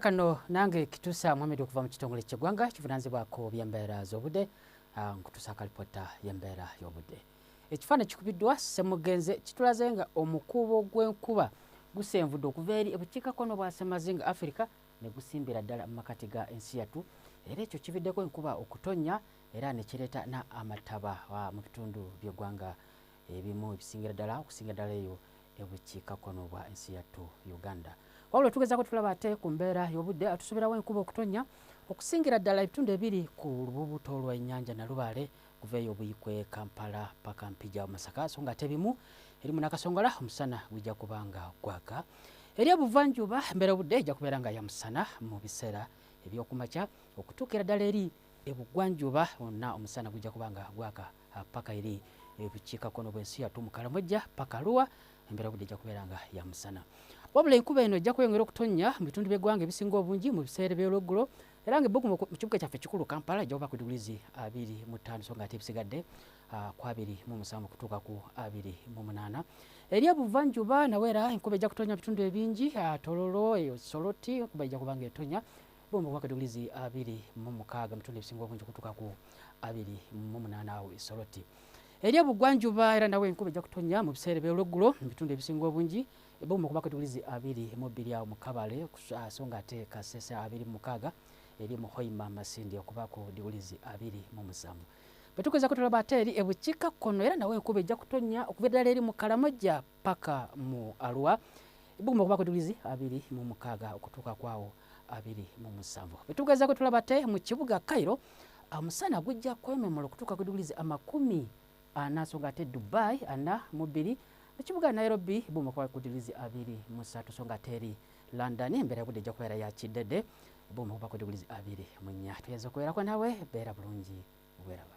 kano nange kitusa muhamedi okuva mu kitongole kyegwanga kivunanzibwako byembeera zobudde ah, nkutusa kalipota yembeera yobudde ekifaananyi kikubiddwa semugenze kitulaze nga omukuubo gw'enkuba gusenvudde okuva eri ebukiikakkono bwa semazinga afirika ne gusimbira ddala mu makati ga ensi yattu era ekyo kibiddeko enkuba okutonnya era ne kireeta n'amataba ah, mu bitundu by'eggwanga ebimu ebisingira ddala okusingira ddala eyo ebukiikakkono bwa ensi yattu uganda wabula tugezako tulaba ate ku mbeera y'obudde atusuubirawo enkuba okutonnya okusingira ddala ebitundu ebiri ku lububuto lw'ennyanja nalubaale kuva eyo buyikwe kampala paka mpija masaka so nga ate bimu eri munakasongola omusana gujja kuba nga gwaka eri obuvanjuba embeera obudde ejja kubeera nga ya musana mu biseera ebyokumakya okutuukira ddala eri ebugwanjuba onna omusana gujja kuba nga gwaka ah, paka eri ebukiikakkono eh, bwensi yattu mukalamojja paka luwa embeera budde ejja kubeera nga yamusana wabula enkuba eno ejja kweyongera okutonnya mu bitundu by'eggwanga ebisinga obungi mu biseera eby'olweggulo era nga ebbugumu mu kibuga kyaffe ekikulu kampala ejja kuba ku digurizi abiri mu ttaano so nga ate ebisigadde ah, ku abiri mu musanvu okutuuka ku abiri mu munaana eri ebuvanjuba nawe era enkuba ejja kutonnya mu bitundu ebingi ah, tololo eyo soloti enkuba ejja kuba nga etonya bomba kuba kadigrizi abiri mu mukaaga ebitundu ebisinga obungi okutuuka ku abiri mu munaana awo esoroti eri obugwanjuba era nawe enkuba ejja kutonya mu biseera ebyolweggulo mu bitundu ebisinga obungi ebomba kuba kadigrizi abiri mu bbiri awo mu kabale ah, so nga ate kasese abiri mu mukaaga eri mu hoima masindi okuba ku digrizi abiri mu musanvu betukweza kutula bateri ebuchika kono era nawe kube ja kutonya okubedala eri mu kalamoja paka mu alwa ibumu kuba kutulizi abiri mu mukaga okutuka kwao abiri mu musanvu bwetugezaako tulaba te mu kibuga cairo omusana ah, gujja kwememula okutuuka ku diguli amakumi ana ah, songa ate dubai ana ah, mu bbiri ekibuga nairobi bumakuba ku diguli abiri mu satu songa ate eri london embeera yobudde ejja kubeera ya kiddedde bumakuba ku diguli abiri mu nnya tuyinza okubeerako nawe beera bulungi bweraba